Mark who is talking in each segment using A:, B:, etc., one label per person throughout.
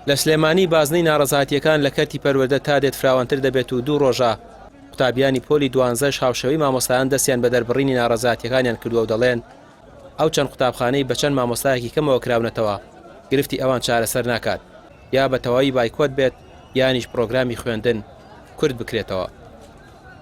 A: لە سلێمانی بازنەی ناڕەزایەتییەکان لە کەرتی پەروەردە تا دێت فراوانتر دەبێت و دوو ڕۆژە قوتابیانی پۆلی دوانزەش هاوشێوەی مامۆستایان دەستیان بە دەربڕینی ناڕەزایەتیەکانیان کردووە و دەڵێن ئەو چەند قوتابخانەی بە چەند مامۆستایەکی کەمەوە کراونەتەوە گرفتی ئەوان چارەسەر ناکات یا بە تەواوی بایکۆت بێت یانیش پرۆگرامی خوێندن کورد بکرێتەوە.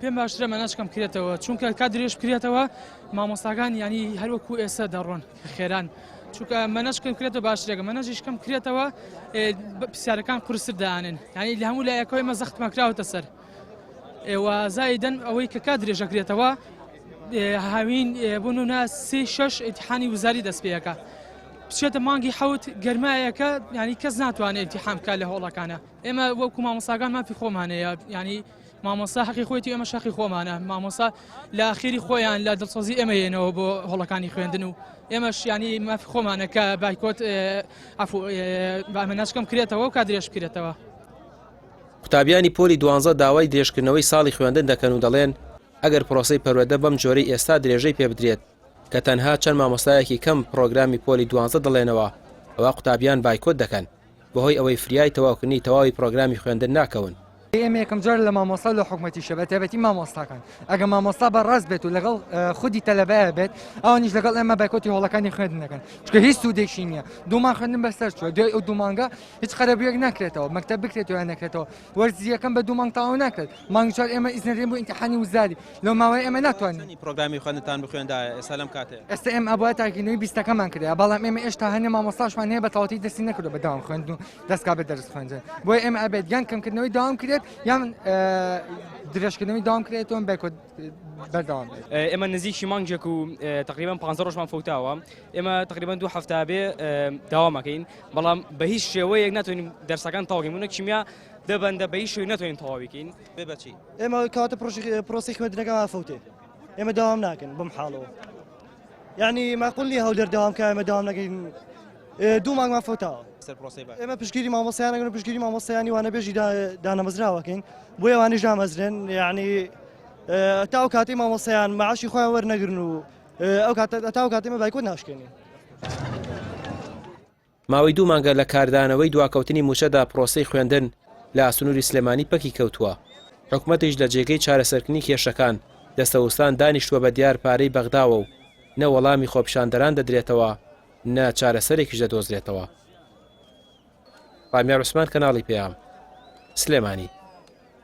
B: پێم باشترە مەناجکەم
C: کرێتەوە چونکە کا درێژ کرێتەوە مامۆستاکان ینی هەروەکو ئێستا دەڕۆن خێران چونکە مەنەشکەم کرێتە باشترێکە مەنەژیشکەم کرێتەوە پرسیارەکان قرسر دانێن ینی لە هەموو لایەکەوەی مە زەخت مەکراوەتە سەر ئێوە زایدن ئەوەی کە کا درێژە کرێتەوە هاوین بوون و ناسی شش ئتحانی وزاری دەستپێەکە بچێتە مانگی حوت گەرمایەکە ینی کەس ناتوانێت ئتیحام بکە لە هۆڵەکانە ئێمە وەکو مامۆساگان مافی خۆمانەیە ینی مامۆستا حەقی خۆیەتی ئێمەش حەقی خۆمانە مامۆستا لە ئاخیری خۆیان لە دڵسۆزی ئێمە یەنەوە بۆ هۆڵەکانی خوێندن و ئێمەش ینی مافی خۆمانە کە بایکۆت عفو بامە نشکم کرێتەوە و کادرێش کرێتەوە
A: قوتابیانی پۆلی دوانزە داوای درێژکردنەوەی ساڵی خوێندن دەکەن و دەڵێن ئەگەر پرۆسی پەروەدە بەم جۆرەی ئێستا درێژەی پێ بدرێت کە تەنها چەند مامۆستایەکی کەم پرۆگرامی پۆلی دوانزە دەڵێنەوە ئەوە قوتابیان بایکۆت دەکەن بەهۆی ئەوەی فریای تەواوکردنی تەواوی پرۆگرامی خوێندن ناکەون. ئێمە یەکەم جارە
D: لە مامۆستا و لە حکومەتیشە بە تایبەتی مامۆستاکان ئەگەر مامۆستا بە ڕاست بێت و لەگەڵ خودی تەلەبەیە بێت ئەوانیش لەگەڵ ئێمە بایکۆتی هۆڵەکانی خوێندن دەکەن چکە هیچ سوودێکی نییە دوومان خوێندن بەسەر چوە دوای ئەو دوومانگە هیچ قەرەبوویەک ناکرێتەوە مەکتەب بکرێتەوە نەکرێتەوە وەرزییەکەم بە دوو مانگ تەواو ناکرێت، مانگی چوار ئێمە ئیزن دەدەین بۆ ئینتیحانی وزاری، لەو ماوەیە ئێمە ناتوانین. چەندی پرۆگرامی خوێندنتان
A: بخوێندایە ئێستا لەم کاتەیە؟ ئێستا ئێمە ئەبوایە تاکیلۆی
D: بیستەکەمان کرێا، بەڵام ئێمە ئێشتا هەنێ مامۆستاشمان هەیە بە تەواوەتی دەستی نەکردووە بە دەوام خوێندن و دەستکات بە دەرس خوێندن، بۆیە ئێمە ئەبێت یان کەمکردنەوەی دەوام کرێت یان درێژکردنەوەی دەوام کرێت و بایکۆت بەردەوام بێت. ئێمە نزیکی مانگێک
E: و تەقریبەن پانزە ڕۆژمان فەوتاوە، ئێمە تەقریبەن دوو هەفتە ئەبێ دەوام ئەکەین، بەڵام بە هیچ شێوەیەک ناتوانین دەرسەکان تەواو بکەین، بۆ نموونە کیمیا دە بەندە بە هیچ شێوەیەک ناتوانین تەواوی بکەین. بێ بە چی؟ ئێمە
A: کەواتە
F: پرۆسەی خوێندنەکەمان ئافەوتێ، ئێمە داوام ناکەین بەم حاڵەوە، یانی ماقوول نییە هەولێر داوام بکا ئێمە داوام نەکەین دوو مانگمان فەوتاوە. سەر پرۆسەی بە. ئێمە پشتگیری مامۆستایان نەکەین و پشتگیری مامۆستایانی وانەبێژی دانەمەزراوە بکەین، بۆیە ئەوانیش دامەزرێن، یانی تا ئەو کاتەی مامۆستایان مەعاشی خۆیان وەرنەگرن و. ئەو کاتە هەتا ئەو کاتەی ئێمە بایکۆت ناشکێنین.
A: ماوەی دوو مانگە لە کاردانەوەی دواکەوتنی مووچەدا پرۆسەی خوێندن لە سنووری سلێمانی پەکی کەوتووە، حکومەتیش لە جێگەی چارەسەرکردنی کێشەکان لە سەوستان دانیشتووە بە دیار پارەی بەغداوە و نە وەڵامی خۆپیشاندەران دەدرێتەوە نە چارەسەرێکیش دەدۆزرێتەوە. ڕامیار عوسمان کەناڵی پەیام. سلێمانی.